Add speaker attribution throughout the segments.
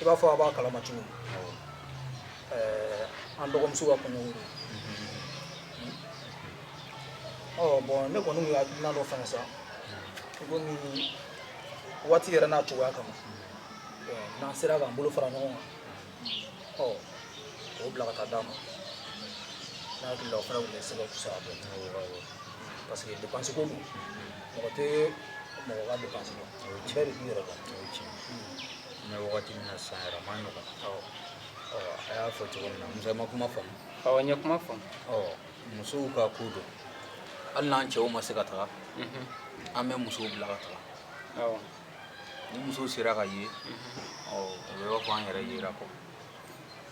Speaker 1: i b'a fɔ a b'a kalama cogo an dɔgɔmuso ka kun bon ne kɔni y'a dunan dɔ fana sa komi waati yɛrɛ n'a cogoya kama n'an sera k'an bolo fara ɲɔgɔn kan ɔ k'o bila ka taa d'a ma ne hakili la o fana tun bɛ se ka fisa dɔɔnin parce que dépense ko don mɔgɔ tɛ mɔgɔ ka dépense dɔn bɛɛ de b'i yɛrɛ dɔn wagati min na san yɛrɛ man nɔgɔn a y'a fɔ cogo min na musa ma kuma faamu awɔ n ye kuma faamu musow ka ko don hali n'an cɛw ma se ka taga an bɛ musow bila ka taga ni muso sera ka ye o bɛ b'a fɔ an yɛrɛ yera kɔ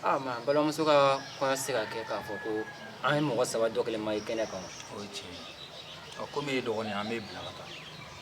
Speaker 1: aa mɛ an balimamuso ka kɔɲɔ se ka kɛ k'a fɔ ko an ye mɔgɔ saba dɔ kelen ma ye kɛnɛ kan o ye tiɲɛ ye komi e dɔgɔnin an b'e bila ka taa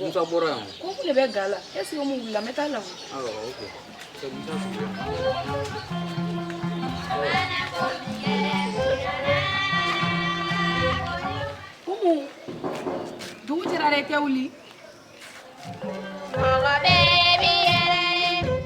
Speaker 1: Musa bɔra yan ko ne bɛ ga la e sigi mun wulila n bɛ taa la komi dugu jɛra dɛ tɛ wuli mɔgɔ bɛ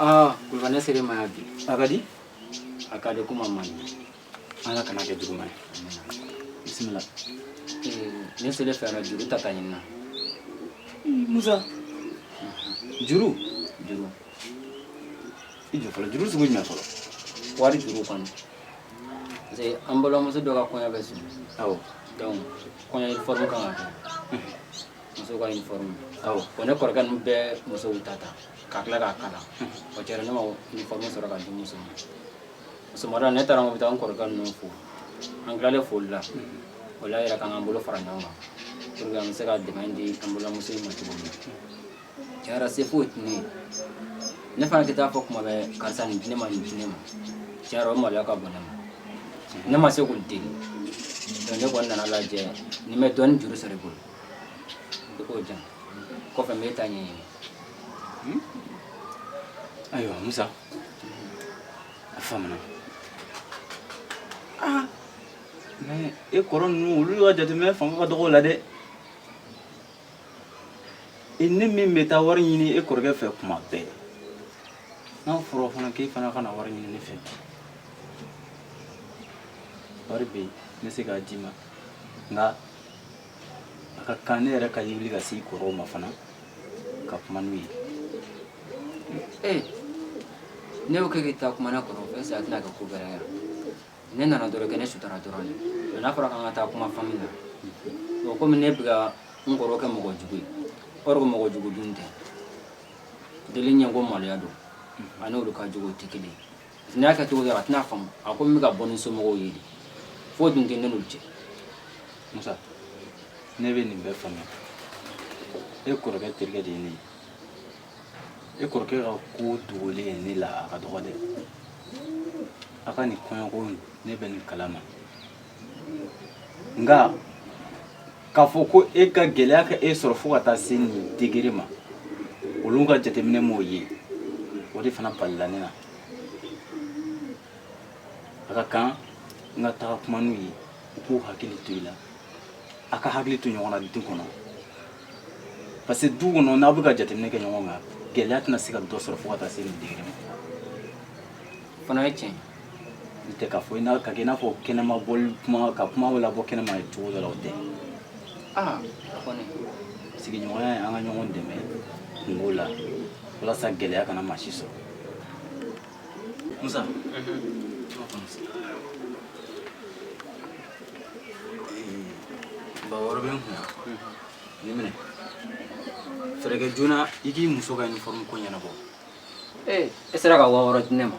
Speaker 1: aa kulubali ne sera i ma yan bi a ka di a ka di kuma man ɲi ala kan'a kɛ juguman ye bisimila ne selen fɛra juru ta ka ɲinina musa juru juru i jɔ fɔlɔ juru sugu jumɛn fɔlɔ wari juru kɔni parce que an balimamuso dɔ ka kɔɲɔ bɛ sigi awɔ donc kɔɲɔ uniforme ka kan ka kɛ muso ka uniforme awɔ bon ne kɔrɔkɛ ninnu bɛɛ musow ta ta ka tila k'a kala o kɛra ne ma uniforme sɔrɔ ka di muso ma sɔgɔmada ne taara n ko n bɛ taa n kɔrɔkɛ ninnu fo an tilalen foli la o la yɛrɛ k'an k'an bolo fara ɲɔgɔn kan pour que an bɛ se ka dɛmɛ di an balimamuso in ma cogo min tiɲɛ yɛrɛ se foyi tɛ ne ye ne fana tɛ taa fɔ kuma bɛɛ karisa nin di ne ma nin di ne ma tiɲɛ yɛrɛ o maloya ka bon ne ma ne ma se k'u deli donc ne kɔni nana lajɛ ni n bɛ dɔɔnin juru sɔrɔ i bolo I k'o di yan kɔfɛ n bɛ taa ɲɛ hmm? ayiwa musa a faamuna aa ah, mɛ e kɔrɔ ninnu olu ka jateminɛ fanga ka dɔgɔ la dɛ e ne min bɛ taa wari ɲini e kɔrɔkɛ fɛ kuma bɛɛ n'a fɔra fana k'e fana ka na wari ɲini ne fɛ wari bɛ yen n bɛ se k'a d'i ma nka a ka kan ne yɛrɛ ka wuli ka se kɔrɔw ma fana ka kuma n'u ye ee n'i y'o kɛ ka taa kuma ne kɔrɔ fɛ sa a tɛna kɛ ko gɛlɛya yan ne nana dɔrɔn kɛ ne sutura dɔrɔn de mɛ n'a fɔra k'an ka taa kuma fami na bon komi ne bɛ ka n kɔrɔ kɛ mɔgɔ jugu ye or que mɔgɔ jugu dun tɛ deli ɲɛ ko maloya don ani olu ka jugu tɛ kelen ye N y'a kɛ cogo a tɛna a faamu a ko n ka bɔ ni somɔgɔw ye fo dun tɛ ne n'olu cɛ musa ne bɛ nin bɛɛ faamuya e kɔrɔkɛ terikɛ de ye ne ye e kɔrɔkɛ ka ko dogolen ye ne la a ka dɔgɔ dɛ a ka nin kɔɲɔko ne bɛ nin kala ma nka k'a fɔ ko e ka gɛlɛya ka e sɔrɔ fo ka taa se nin degere ma olu ka jateminɛ m'o ye o de fana balila ne na a ka kan n ka taga kuma n'u ye u k'u hakili to i la a k'a hakili to ɲɔgɔn na du kɔnɔ parce que du kɔnɔ n'aw bɛ ka jateminɛ kɛ ɲɔgɔn kan gɛlɛya tɛna se ka dɔ sɔrɔ fo ka taa se nin degere ma fana ye tiɲɛ n tɛ k'a fɔ i n'a ka kɛ i n'a fɔ kɛnɛma bɔli kuma ka kuma labɔ kɛnɛma ye cogo dɔ la o tɛ aa a kɔni sigiɲɔgɔnya ye an ka ɲɔgɔn dɛmɛ kunko la walasa gɛlɛya kana maa si sɔrɔ musa ba wɔɔrɔ bɛ n kun na nin minɛ fɛɛrɛ kɛ joona i k'i muso ka uniforme ko ɲɛnabɔ ee e sera ka waa wɔɔrɔ di ne ma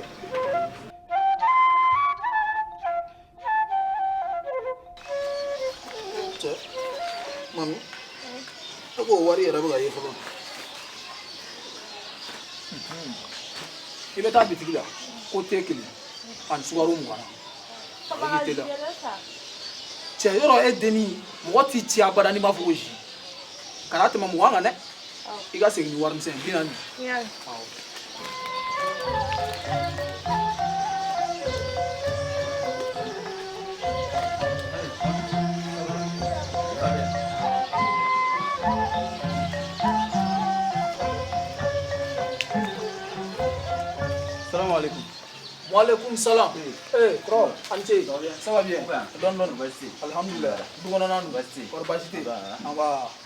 Speaker 1: e ko wari yɛrɛ bɛ ka ye fɔlɔ i bɛ taa bitigi la ko te kelen ani sukaro mugan na i tɛ da cɛ yɔrɔ e denni mɔgɔ t'i ci abada n'i m'a fɔ ko zi kana tɛmɛ mugan kan dɛ i ka segin ni warimisɛn bi naani salamaleykum waaleykum salam ee kɔrɔ a ni ce ça va bien dɔɔni dɔɔni alihamudulila du kɔnɔna dun kɔrɔ baasi tɛ yen an b'a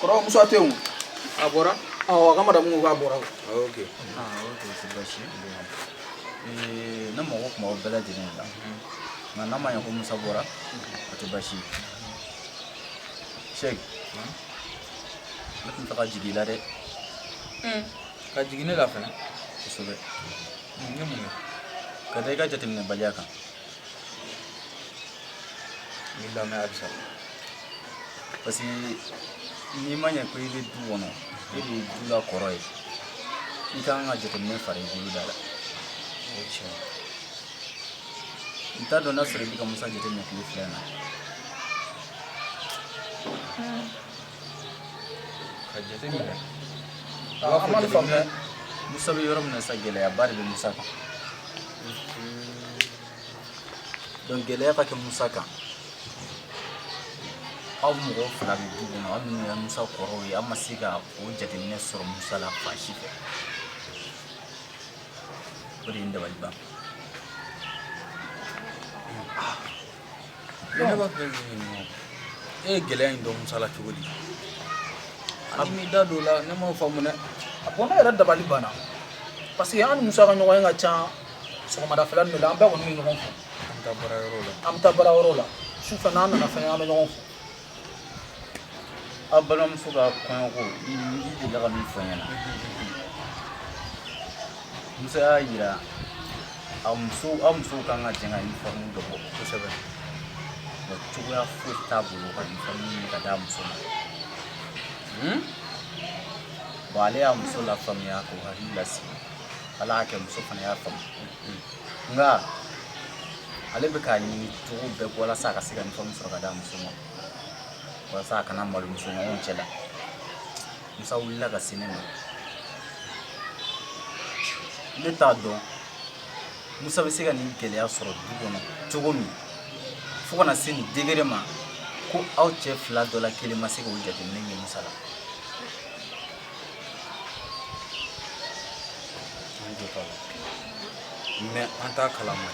Speaker 1: kɔrɔ musa tɛ yen a bɔra awɔ a ka madamu ko k'a bɔra o ah, ok aa ah, o tɛ baasi ye ne mago tun b'aw bɛɛ lajɛlen la nka n'a ma ɲɛ ko musa bɔra o tɛ baasi ye sɛku ne tun tɛ ka jigin i la dɛ ka jigin ne la fɛnɛ kosɛbɛ Ka da i ka jateminɛbaliya kan n b'i lamɛn halisa parce que n'i ma ɲɛ ko i bɛ du kɔnɔ e de ye du la kɔrɔ ye i ka kan ka jateminɛ fara i bolo da la o ye tiɲɛ ye n t'a dɔn n'a sɔrɔ i bɛ ka musa jateminɛ tile fila in na ka jate minɛ a b'a fɔ jateminɛ musa bɛ yɔrɔ min na sa gɛlɛyaba de bɛ musa kan donc gɛlɛya ka kɛ musa kan aw mɔgɔ fila bɛ du kɔnɔ aw minnu ye musa kɔrɔw ye aw ma se ka o jateminɛ sɔrɔ musa la fan si fɛ o de ye n dabali ban B'a fɛ e ye gɛlɛya in dɔn musa la cogo di a b'i da don la ne ma faamu dɛ a ko ne yɛrɛ dabali banna parce que an musa ka ɲɔgɔn ye ka ca sɔgɔmada fila de la an bɛɛ kɔni bɛ ɲɔgɔn fɛ an bɛ taa baarayɔrɔ la an bɛ taa baarayɔrɔ la su fɛ n'an nana fana an bɛ ɲɔgɔn fɛ An balimamuso ka kɔɲɔko i delila ka min fɔ n ɲɛna Musa y'a jira a muso aw musow kan ka jɛ ka uniforme dɔ bɔ kosɛbɛ nka cogoya foyi t'a bolo ka uniforme ɲini ka d'a muso ma hmm? bon ale y'a muso lafaamuya k'o hakili lasigi ala y'a kɛ muso fana y'a faamu nka ale bɛ k'a ɲini cogo bɛɛ walasa a ka se ka uniforme sɔrɔ ka d'a muso ma walasa a kana malo muso ɲɔgɔn cɛ la musa wulila ka se ne ma ne t'a dɔn musa bɛ se ka nin gɛlɛya sɔrɔ du kɔnɔ cogo min fo ka na se nin degré ma ko aw cɛ fila dɔ la kelen ma se k'o jateminɛ ye musa la mais an t'a kalama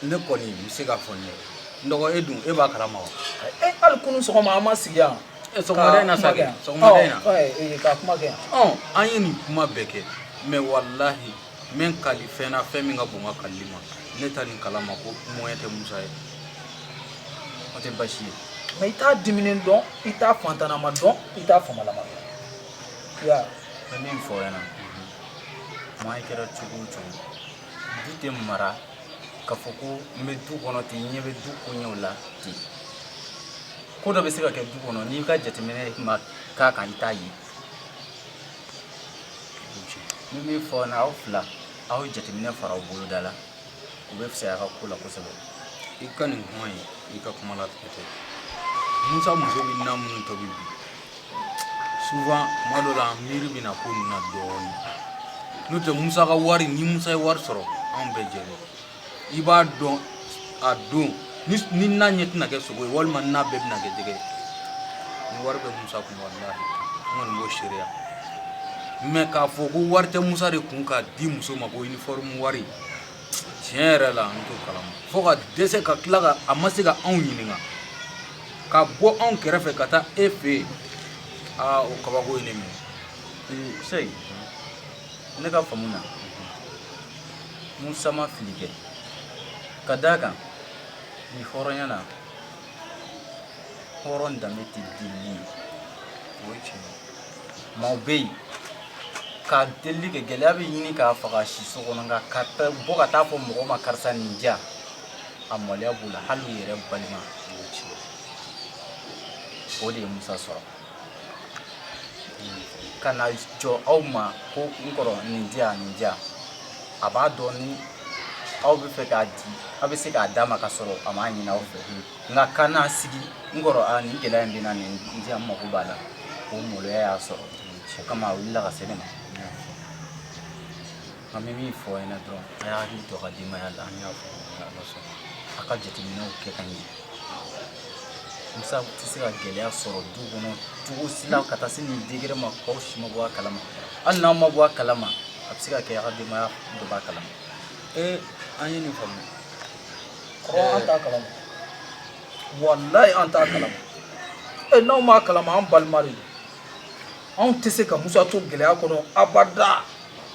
Speaker 1: ne kɔni i bɛ se k'a fɔ n ye n dɔgɔ e dun e b'a kalama wa e hali kunu sɔgɔma an ma sigi yan sɔgɔmada in na sa kɛ sɔgɔmada in na ka kuma kɛ yan an ye nin kuma bɛɛ kɛ mais walahi n bɛ n kali fɛn na fɛn min ka bon n ka kalili ma ne tɛ nin kalama ko moyen tɛ musa ye o tɛ baasi ye mɛ i t'a diminen dɔn i t'a fantanama dɔn i t'a faamalama dɔn an bɛ min fɔ ɲɛna maa i kɛra cogo o cogo du tɛ mara k'a fɔ ko n bɛ du kɔnɔ ten n ɲɛ bɛ du koɲɛw la ten ko dɔ bɛ se ka kɛ du kɔnɔ n'i ka jateminɛ ma k'a kan i t'a ye N bɛ min fɔ ɲɛna aw fila aw jateminɛ fara aw bolo da la o bɛ fisaya a ka ko la kosɛbɛ i ka nin kuma ye i ka kuma la ten musa muso bɛ na minnu tobi bi souvent tuma dɔ la an miiri bɛ na ko nin na dɔɔnin n'o tɛ musa ka wari ni musa ye wari sɔrɔ anw bɛɛ jɛ i b'a dɔn a don ni na ɲɛ tɛna kɛ sogo ye walima na bɛɛ bɛna kɛ jɛgɛ ye ni wari bɛ musa kun walahi n kɔni b'o seereya mɛ k'a fɔ ko wari tɛ musa de kun k'a di muso ma ko uniforme wari tiɲɛ yɛrɛ la n t'o kalama fo ka dɛsɛ ka tila ka a ma se ka anw ɲininka ka bɔ anw kɛrɛfɛ ka taa e fɛ yen aa o kabako ye ne minɛ sɛyi ne ka faamu na musa ma fili kɛ ka d'a kan nin hɔrɔnya na hɔrɔn danbe tɛ delili ye o ye tiɲɛ ye maaw bɛ yen ka delili kɛ gɛlɛya bɛ ɲini k'a faga siso kɔnɔ nka ka bɔ ka taa fɔ mɔgɔ ma karisa nin di yan a maloya b'o la hali u yɛrɛ balima o ye tiɲɛ ye o de ye musa sɔrɔ ka na jɔ aw ma ko n kɔrɔ nin di yan nin di yan a b'a dɔn ni aw b'a fɛ k'a di aw bɛ se k'a d'a ma ka sɔrɔ a m'a ɲini aw fɛ nka ka n'a sigi n kɔrɔ a nin gɛlɛya in bɛ n na nin di yan n mago b'a la o maloya y'a sɔrɔ o kama a wulila ka se ne ma An bɛ min fɔ ɲɛna dɔrɔn a y'a hakili to a ka denbaya la an y'a fɔ n'Ala sɔnna a ka jateminɛw kɛ ka ɲɛ Musa tɛ se ka gɛlɛya sɔrɔ du kɔnɔ cogo si la ka taa se nin degré ma k'aw si ma bɔ a kalama hali n'aw ma bɔ a kalama a bɛ se ka kɛ a ka denbaya dɔ b'a kalama ee an ye nin faamu kɔrɔ an t'a kalama walayi an t'a kalama ee n'aw m'a kalama an balima de don anw tɛ se ka musa to gɛlɛya kɔnɔ abada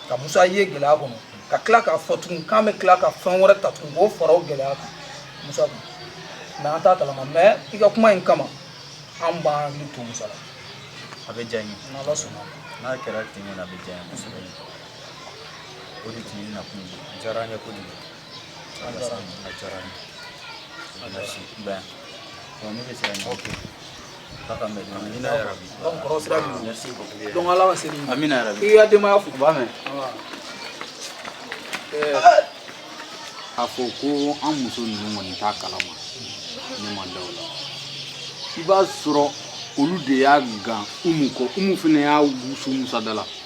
Speaker 1: ka musa ye gɛlɛya kɔnɔ ka tila k'a fɔ tugun k'an bɛ tila ka fɛn wɛrɛ ta tugun k'o fara o gɛlɛya kan musa kun mɛ an t'a kalama mɛ i ka kuma in kama an b'an hakili to musa la a bɛ diya n ye n'ala sɔnna n'a kɛra ten ɲɛna a bɛ diya n ye kosɛbɛ o de tun ye n nakun ye a diyara n ye kojugu A fɔ ko an muso ninnu kɔni t'a kalama ne ma da o la i b'a sɔrɔ olu de y'a gan Umu kɔ Umu fana y'a wusu Musa da la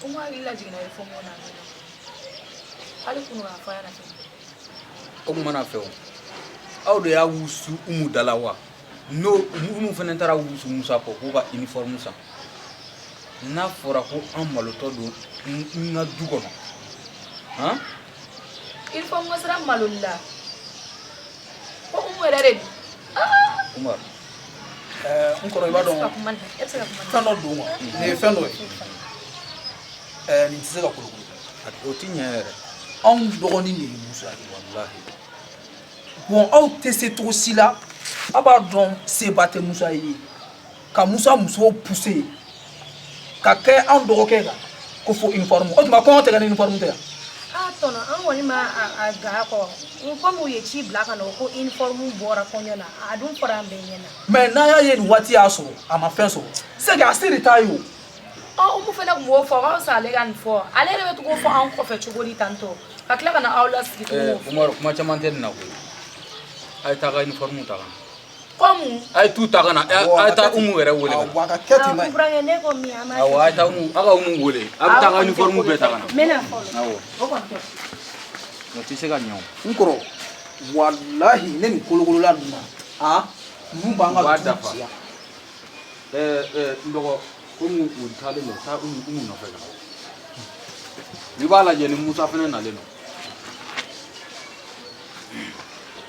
Speaker 1: ko n hakili lajiginna i fɔ mɔgɔ na hali kunu k'a fɔ a ɲɛna fɛn o tuma na fɛ o aw de y'a wusu umu da la wa n'o umu fana taara a wusu musa kɔ k'u ka uniforme san n'a fɔra ko an malotɔ don n ka du kɔnɔ han uniforme ko sera maloli la ko umu yɛrɛ de don umar n kɔrɔ i b'a dɔn fɛn dɔ don nin ye fɛn dɔ ye nin tɛ se ka kolokolo o ti ɲɛ yɛrɛ anw dɔgɔnin de ye musa ye walahi bɔn aw tɛ se cogo si la aw b'a dɔn se ba tɛ musa ye ka musa musow puse ka kɛ anw dɔgɔkɛ kan ko fo uniforme o tuma kɔɲɔ tɛ kɛ ni uniforme tɛ yan a tɔnɔ an kɔni ma a gan a kɔ komi u ye ci bila ka na ko uniforme bɔra kɔɲɔ na a dun fɔra an bɛɛ ɲɛna mais n'a y'a ye nin waati y'a sɔrɔ a ma fɛn sɔrɔ c'est que a se de t'a ye o ɔ umu fana tun b'o fɔ k'aw sa ale ka nin fɔ ale yɛrɛ bɛ to k'o fɔ anw kɔfɛ cogo di tantɔ ka tila ka na aw lasigi tuguni kuma caman tɛ nin na koyi a ye taa ka uniforme ta ka na A ye t'u ta ka na a taa umu yɛrɛ weele aw aw taa uniforme bɛɛ ta na tɛ se ka ɲɛ n kɔrɔ walahi ne ni kolokolola aa nu b'an ka dafa n dɔgɔ ko taalen don taa umu nɔfɛ ka i b'a lajɛ ni musa fana nalen don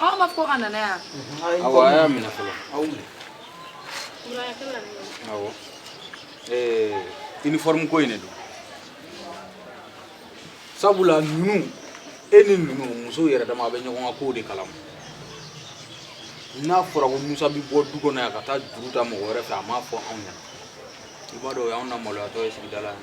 Speaker 1: Aw m'a fɔ k'a nana yan awa y'a minɛ fɔlɔ aw minɛ awa uniforme ko in de don sabula ninnu e ni ninnu musow yɛrɛ dama bɛ ɲɔgɔn ka kow de kalama n'a fɔra ko musa bɛ bɔ du kɔnɔ yan ka taa juru ta mɔgɔ wɛrɛ fɛ a m'a fɔ anw ɲɛna i b'a dɔn o y'anw na maloyatɔ ye sigida la yan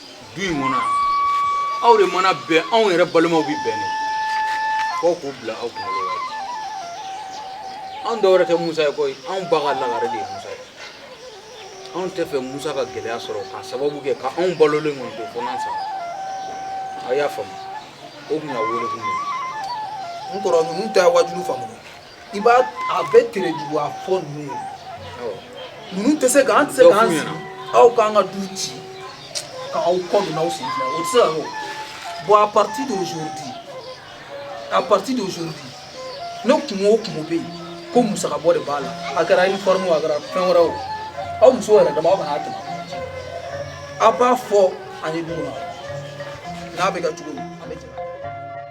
Speaker 1: du in kɔnɔ aw de mana bɛn anw yɛrɛ balimaw bɛ bɛn de fɔ k'u bila aw kunkolo la anw dɔ wɛrɛ tɛ musa ye koyi anw ba ka lagare de ye musa ye anw t'a fɛ musa ka gɛlɛya sɔrɔ k'a sababu kɛ ka anw balolen kɔni to fo n'an sara aw y'a faamu o tun y'aw wele kun ye n kɔrɔ ninnu tɛ waajuli faamu i b'a a bɛ tere juguya fɔ ninnu ye ninnu tɛ se ka an tɛ se k'an sigi aw k'an ka du ci ka aw kɔ don aw sen fila o tɛ se ka kɛ bon à partir d'aujourd'hui à partir d'aujourd'hui ni kunko o kunko bɛ yen ko musaka bɔ de b'a la a kɛra uniforme o a kɛra fɛn wɛrɛ o aw muso yɛrɛ dama aw kana tɛmɛ aw b'a fɔ ani dugu ma n'a bɛ ka cogo min